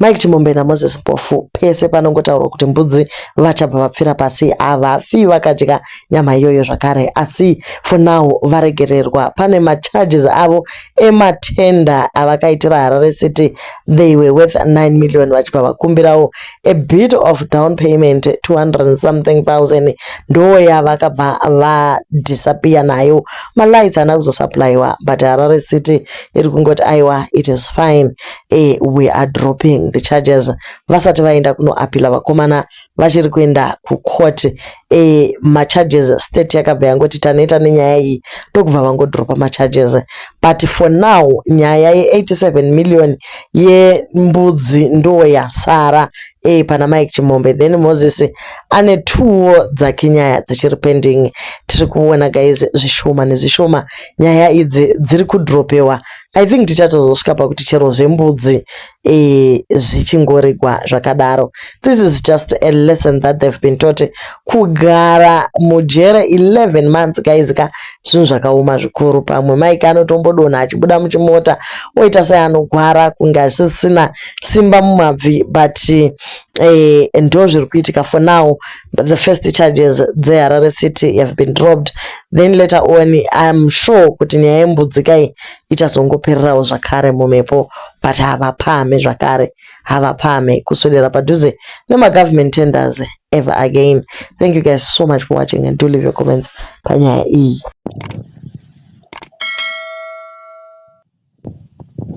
Mike Chimombe naMoses Mpofu pese panongotaurwa kuti mbudzi vachabva vapfira pasi havafi vakadya nyama iyoyo zvakare asi for now varegererwa pane macharges avo ematenda avakaitira Harare City they were worth 9 million vachibva vakumbirawo a bit of down payment 200 something thousand ndo yavakabva vadisappear nayo malights ana kuzosupplywa but Harare City iri kungoti aiwa it is fine eh, we are dropping the charges vasati vaenda kunoapila vakomana vachiri kuenda kucourt eh, macharges state yakabva yangoti taneta nenyaya iyi ndokubva vangodropa macharges but for now nyaya ye87 million yembudzi ndo yasara eh, pana mike chimombe then moses ane tuwo dzake nyaya dzichiri pending tiri kuona guys zvishoma nezvishoma nyaya idzi dziri kudropewa i think tichatozosvika pakuti chero zvembudzi eh, zvichingoregwa zvakadaro this is just a lesson that they've been taught kugara mujere 11 months guys ka zvinhu zvakaoma zvikuru pamwe maika anotombodonha achibuda muchimota oita sei anogwara kunge asisina simba mumabvi but eh, ndo zviri kuitika for now the first charges dzeharare city have been dropped then later on iam sure kuti nyaya yembudzikai ichazongopererawo zvakare mumhepo but havapame zvakare havapame kuswedera padhuze nemagovernment tenders ever again thank you guys so much for watching and do leave your comments panyaya iyi